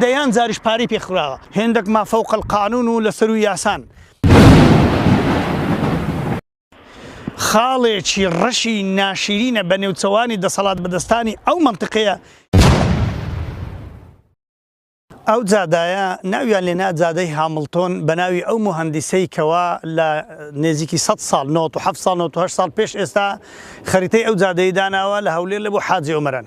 دەیان جاریش پارەی پێ خوراوە، هێندەک ما فوق القانون و لەسەروو یاسان. خاڵێکی ڕەشی ناشیرینە بە نێوچەوانی دەسەڵاتبەدەستانی ئەو مەنتقەیە، ئەو جادایە ناویان لێنا جادەی هامڵتۆن بە ناوی ئەو موهەندیسەی کەوا لە نێزیکی سەد ساڵ، نەوەت و هەفت ساڵ، نەوەت و هەشت ساڵ پێش ئێستا خەریتەی ئەو جادەیەی داناوە لە هەولێر لە بۆ حاجی ئۆمەران.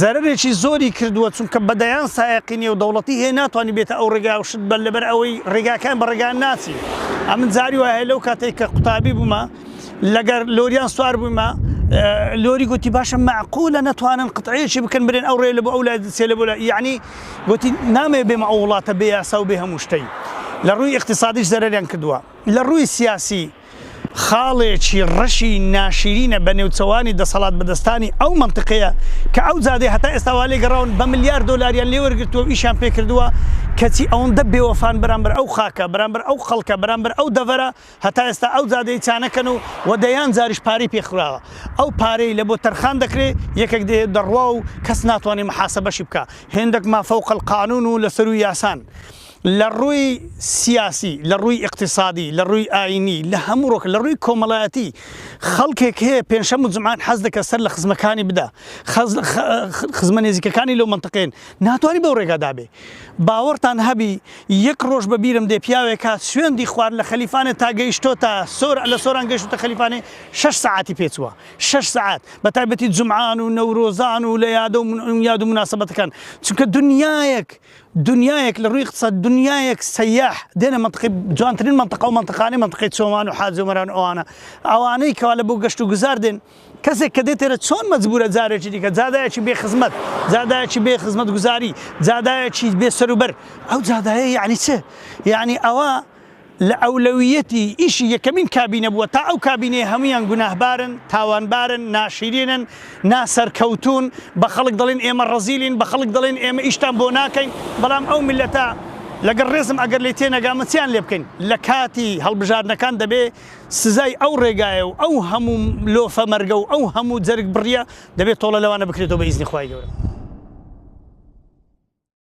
زەرەرێکی زۆری کردووە چونکە بە دەیان سایەقی نێودەوڵەتی هەیە ناتوانی بێتە ئەو ڕێگا و شت بە لەبەر ئەوەی ڕێگاکان بە ڕێگا ناچی ئەمن جاری وایە لەو کاتێک کە قوتابی بوومە لەگەر لۆریان سوار بوومە لۆری گوتی باشە معقولە نەتوانن قطعەیەکی بکەن برێن ئەو ڕێ لە بۆ ئەو لای دچێ لە بۆ لای یعنی گوتی نامێ بێمە ئەو وڵاتە بێ یاسا و بێ هەموو شتەی لە ڕووی اقتصادیش زەرەریان کردووە لە ڕووی سیاسی خاڵێکی ڕەشی ناشیرینە بە نێوچەوانی دەسەڵات بەدەستانی ئەو مەنتقەیە کە ئەو جادەی هەتا ئێستا وا لێگەڕاون بە ملیار دۆلاریان لێ وەرگرتووە و ئیشیان پێ کردووە کەچی ئەوەندە بێوەفان بەرامبەر ئەو خاکە بەرامبەر ئەو خەڵکە بەرامبەر ئەو دەڤەرە هەتا ئێستا ئەو جادەی چانەکەن و وە دەیان جاریش پارەی پێ خراوە ئەو پارەی لە بۆ تەرخان دەکرێ یەکێک دێ دەڕوا و کەس ناتوانێ محاسەبەشی بکا هێندەک مافەوقەلقانون و لەسەروو یاسان لە ڕووی سیاسی، لە ڕووی ئیقتیسادی، لە ڕووی ئایینی، لە هەموو ڕووەک، لە ڕووی کۆمەڵایەتی، خەڵکێک هەیە پێنجشەم و جومعان حەز دەکا سەر لە خزمەکانی بدا، خزمە نێزیکەکانی لەو مەنتقەیەن، ناتوانی بەو ڕێگادا بێ. باوەڕتان هەبی یەک ڕۆژ بە بیرم دێ پیاوێک هات سوێندی خوارد لە خەلیفانێ تا گەیشتۆتە سۆران، لە سۆران گەیشتۆتە خەلیفانێ شەش سەعاتی پێ چووە، شەش سەعات، بە تایبەتی جومعان و نەورۆزان و لە یادە و یاد و موناسەبەتەکان، چونکە دنیایەک. دنیایەک لە ڕووی قسە دنیایەک سەیاح دێنە مەنتقی جوانترین مەنتقە و مەنتقانی مەنتقی چۆمان و حاجی و مەران ئەوانە ئەوانەی کەوا لە بۆ گەشت و گوزار دێن کەسێک کە دێتێرە چۆن مەجبورە جارێکی دیکە جادایەکی بێ خزمەت جادایەکی بێ خزمەت گوزاری جادایەکی بێ سەروبەر ئەو جادایە یعنی چ یعنی ئەوە لە ئەولەویەتی ئیشی یەکەمین کابینە بووە تا ئەو کابینەیە هەموویان گوناهبارن، تاوانبارن، ناشیرینن، ناسەرکەوتوون، بە خەڵک دەڵێن ئێمە ڕەزیلین، بە خەڵک دەڵێن ئێمە ئیشتان بۆ ناکەین، بەڵام ئەو میللەتە لەگەڵ ڕێزم ئەگەر لێی تێنەگامە چیان لێ بکەین؟ لە کاتی هەڵبژاردنەکان دەبێ سزای ئەو ڕێگایە و ئەو هەموو لۆفە مەرگە و ئەو هەموو جەرگ بڕیە دەبێ تۆڵە لەوانە بکرێتەوە بە ئیزنی خوای گەورە.